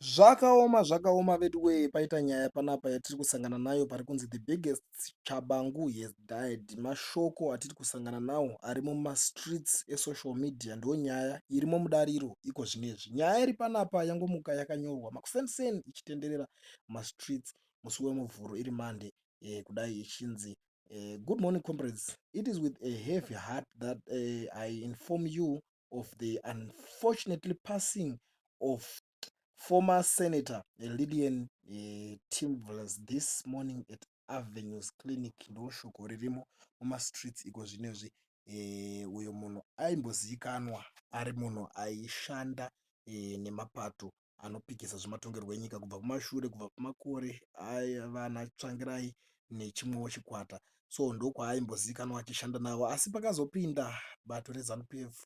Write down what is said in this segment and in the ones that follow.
Zvakaoma zvakaoma veduwee paita nyaya panapa yatiri kusangana nayo pari kunzi the biggest tshabangu has died. Mashoko atiri kusangana nawo ari mumastreets esocial media ndonyaya irimo mudariro iko zvinezvi. Nyaya iri panapa yangomuka yakanyorwa makuseniseni ichitenderera mumastreets musi weMuvhuro iri Monday eh, kudai ichinzi eh, good morning comrades it is with a heavy heart that eh, I inform you of the unfortunately passing of former senator lillian eh, timvlas this morning at avenues clinic ndoshoko ririmo mumastreets iko zvinezvi eh, uyo munhu aimbozivikanwa ari munhu aishanda eh, nemapato anopikisa zvematongerwo enyika kubva kumashure kubva kumakore aana Tsvangirai nechimwewo chikwata so ndokwaaimbozikanwa achishanda navo asi pakazopinda bato reZanu PF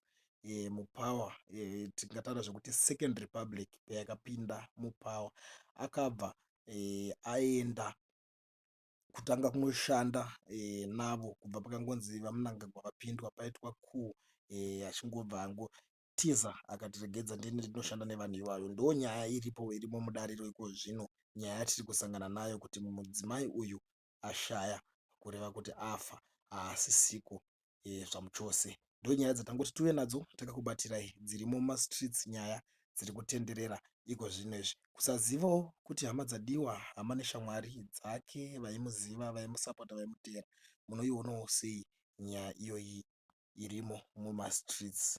eh, mupower eh, tingataura zvekuti second republic payakapinda mupower akabva eh, aenda kutanga kunoshanda eh, navo kubva pakangonzi vamunangagwa vapindwa paitwa ku eh, achingobva ango Tiza akatiregedza ndini ndinoshanda nevanhu ivavo ndonyaya iripo irimo mudariro ikozvino nyaya yatiri kusangana nayo kuti mudzimai uyu ashaya kureva kuti afa haasisiko e, eh, zvamuchose ndonyaya dzatangoti tuve nadzo takakubatirai dzirimo mumastreets nyaya dziri kutenderera iko zvino izvi kusazivawo kuti hama dzadiwa hama neshamwari dzake vaimuziva vaimusapota vaimuteera munoionawo sei nyaya iyoyi irimo mumastreets